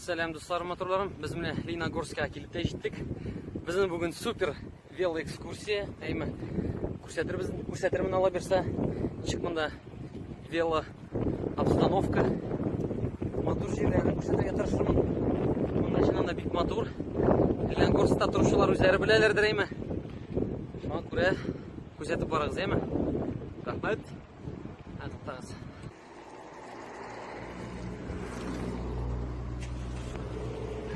Сәлам дусларым, моторларым. Без менә Лениногорскка килеп тә җиттек. Безнең бүген супер велоэкскурсия әйме күрсәтербез күрсәтермен ала бирсә ничек монда вело обстановка матур җирләрен күрсәтергә тырышырмын монда чыннан да бик матур ленгорста торучылар үзләре беләләрдер әйме шуңа күрә күрсәтеп барыгыз әйме рәхмәт туктагыз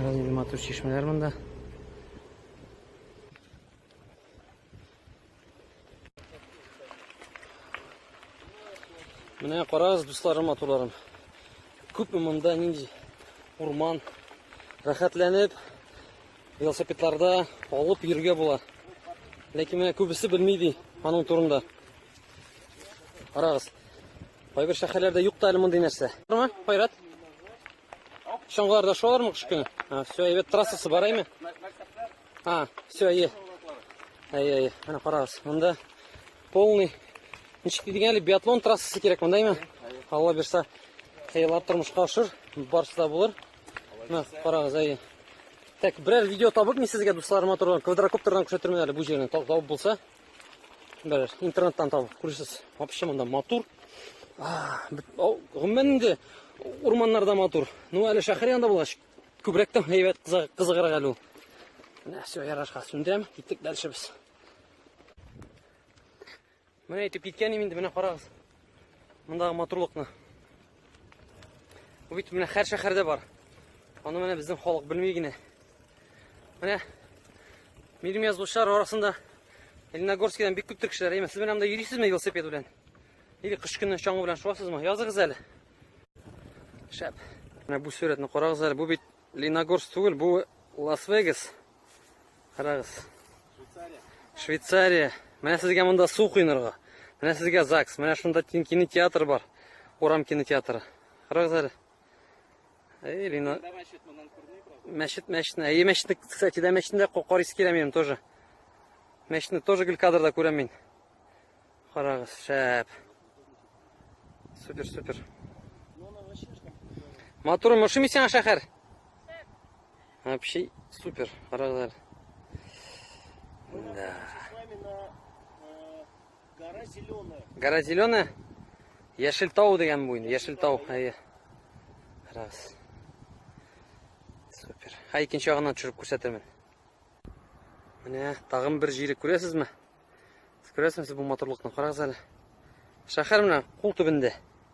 Раз матур чишмәләр монда Менә карагыз, дусларым, матурларым. Күпме монда нинди урман рәхәтләнеп велосипедларда алып йөргә була. Ләкин менә күбесе белми ди аның турында. Карагыз. Кайбер шәһәрләрдә юк та әле мондый нәрсә. Кайрат, Чаңгыларда шулармы кыш көне? А, все, әйбәт трассасы бар әйме? А, все, әйе. Әйе, әйе. Менә карагыз. Монда полный ничек дидең әле биатлон трассасы кирәк монда әйме? Алла бирса, хыяллар тормышка ашыр, барысы да булыр. Менә карагыз, әйе. Так, берәр видео табып мин сезгә дусларыма торган квадрокоптердан күрсәтермен әле бу җирне. Табып булса, даже интернеттан табып күрсіз вообще мында матур гомумән инде урманнарда матур ну әле шәһәр янында булгач күбрәк тә әйбәт кызыграк әле ул менә все ярашка сүндерәм киттек дальше без менә әйтеп киткәнем инде менә карагыз Мондагы матурлыкны. Бу бит менә һәр шәһәрдә бар. Аны менә безнең халык белми генә. Менә минем язучылар арасында Лениногорскидан бик күптер кешеләр. Әйме, сез менә монда йөрисезме велосипед белән? Или кыш көне чаңгы белән шуасызмы? Языгыз әле. Шәп. Менә бу сурәтне карагыз әле. Бу бит Лениногорск түгел, бу Лас-Вегас. Карагыз. Швейцария. Швейцария. Менә сезгә монда су куйнырга. Менә сезгә ЗАГС. Менә шунда кинотеатр бар. Урам кинотеатры. Карагыз әле. Эй, Лина. Мәчет, мәчетне. Әйе, мәчетне, кстати, да мәчетне дә карыйс килә минем тоже. Мәчетне тоже гел кадрда күрәм мин. Карагыз, шәп. Супер, супер. Матур, мошимисяң шәһәр. Вообще супер, карагызлар. Да. Гора зеленая. Гора зеленая? Яшел тау дигән бу инде, яшел тау. Әйе. Раз. Супер. Һә икенче ягыннан төшереп күрсәтермен. Менә тагын бер җире күрәсезме? Сез күрәсезме бу матурлыкны? Карагыз әле. Шәһәр менә кул төбендә.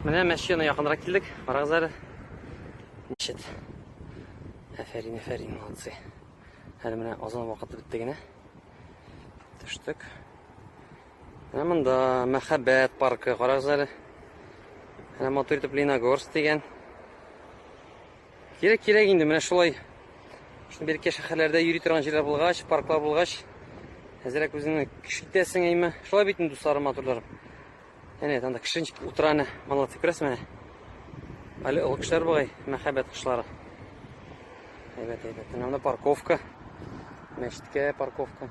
Менә мәчетенә якынрак килдек. Барагыз әле. Мәчет. Әфәрин, әфәрин, молодцы. Әле менә азан вакыты бетте генә. Төштек. Менә монда мәхәббәт паркы, карагыз әле. Менә матур итеп Леногорск дигән. Кирәк кирәк инде менә шулай. Шуны беркә шәһәрләрдә йөри торган җирләр булгач, парклар булгач, әзрәк үзеңне кеше итәсең әйме. Шулай бит инде дусларым, матурларым. Әнә анда кешенчик утыра әнә, малатый күрәсең менә. Әле олы кешеләр бугай, мәхәббәт кышлары. Әйбәт, әйбәт. Менә парковка. Мәчеткә парковка.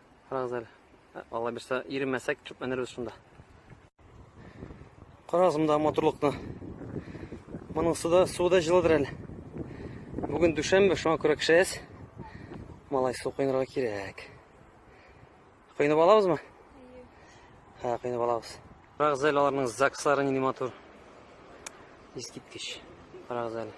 Карагыз әле. Ә, Алла бирсә, иремәсәк, төпләнербез шунда. Карагыз монда матурлыкны. Моның суда, суы да җылыдыр әле. Бүген дүшәмбе, шуңа күрә кешәс. Малай су коенырга кирәк. Коенып алабызмы? Ха, коенып алабыз. Карагыз әле аларның ЗАГСлары нинди матур. Искиткеч. Карагыз әле.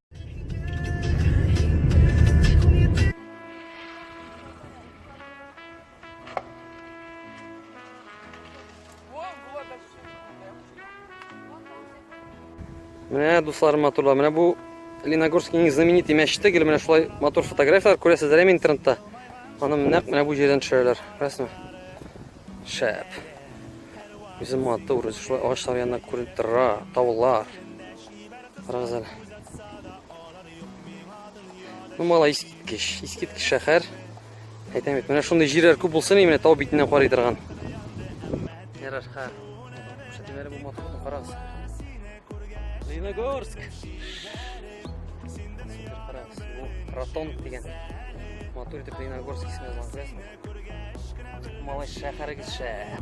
Менә дуслар матурлар, менә бу Леногорскийның знаменитый мәчете, гел менә шулай матур фотографияләр күрәсезләр әле интернетта. Аны нәкъ менә бу җирдән төшерәләр. Күрәсезме? Шәп. Үзе матур, үзе шулай агачлар янына күренеп тора, таулар. Карагыз әле. Ну, мала искиткеч, искиткеч шәһәр. Әйтәм бит, менә шундый җирләр күп булсын, менә тау битеннән карый торган. Ярар, ха. Шәтеләре бу матур, карагыз. Леногорск. Карагыз, бу Ротон дигән. Матур итеп Леногорск исеме язылган, күрәсезме? Малай шәһәрегез шәһәр.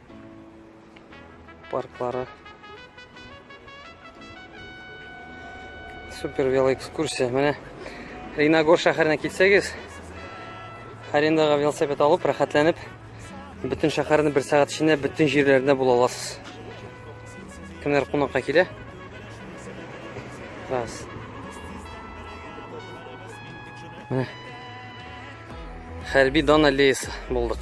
парклары. Супер велоэкскурсия. Менә Ринагор шәһәренә килсәгез, арендаға велосипед алып, рәхәтләнеп, бөтен шәһәрне бер сәгать эчендә бөтен җирләрендә була аласыз. Кемнәр кунакка килә? Раз. Менә. Хәрби дан аллеясы булдык.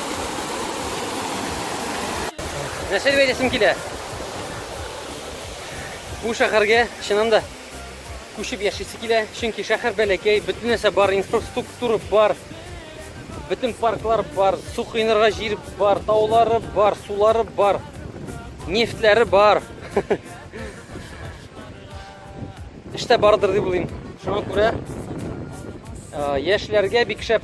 Нәрсә дип әйтәсем килә? Бу шәһәргә чыннан да күчеп яшисе килә, чөнки шәһәр бәләкәй, бөтен нәрсә бар, инфраструктура бар, бөтен парклар бар, су кыйнырга җир бар, таулары бар, сулары бар, нефтләре бар. Эштә бардыр дип уйлыйм. Шуңа күрә яшьләргә бик шәп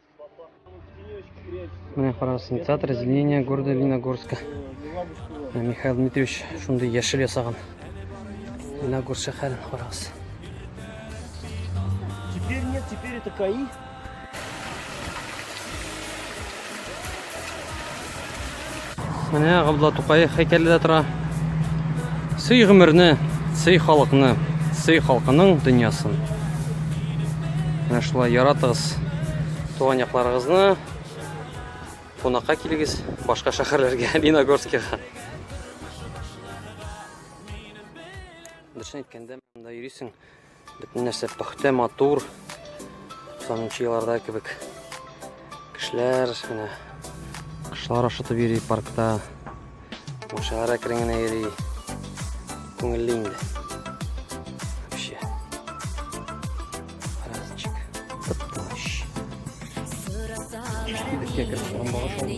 Менә карагыз, театр разделения города Леногорска. Михаил Дмитриевич шундый яшел ясаган. Леногорск шәһәрен карагыз. Теперь нет, теперь это КАИ. Менә Габдулла Тукай һәйкәле дә тора. Сый гомерне, сый халыкны, сый халкының дөньясын. Менә шулай яратыгыз туган якларыгызны. Кунакка килегез башка шәһәрләргә, Лениногорскига. Дөресен әйткәндә, монда йөрисең. Бөтен нәрсә пөхтә, матур. 90 елларда кебек. Кешеләр менә кошлар ашатып йөри паркта. Машиналар әкрен генә йөри. Күңелле инде. Вообще. Разочек. Тып-тыныч. Кичке бетке кереп, торган багыш алды.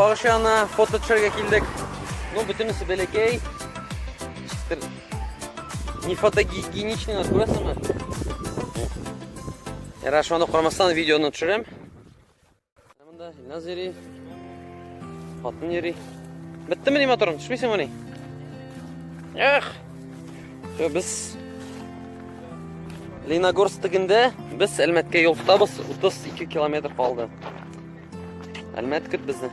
Багыш янына фото төшерергә килдек. Ну, бөтенесе бәләкәй. Не фотогигиеничный нас күрәсеңме? Ярар, шуны карамастан видеоны төшерәм. Монда Илназ йөри. Хатын йөри. Биттеме ни моторың? Төшмисеңме ни? Эх! Все, без Леногорск тегендә без Әлмәткә юл тотабыз. 32 километр калды. Әлмәт көт безне.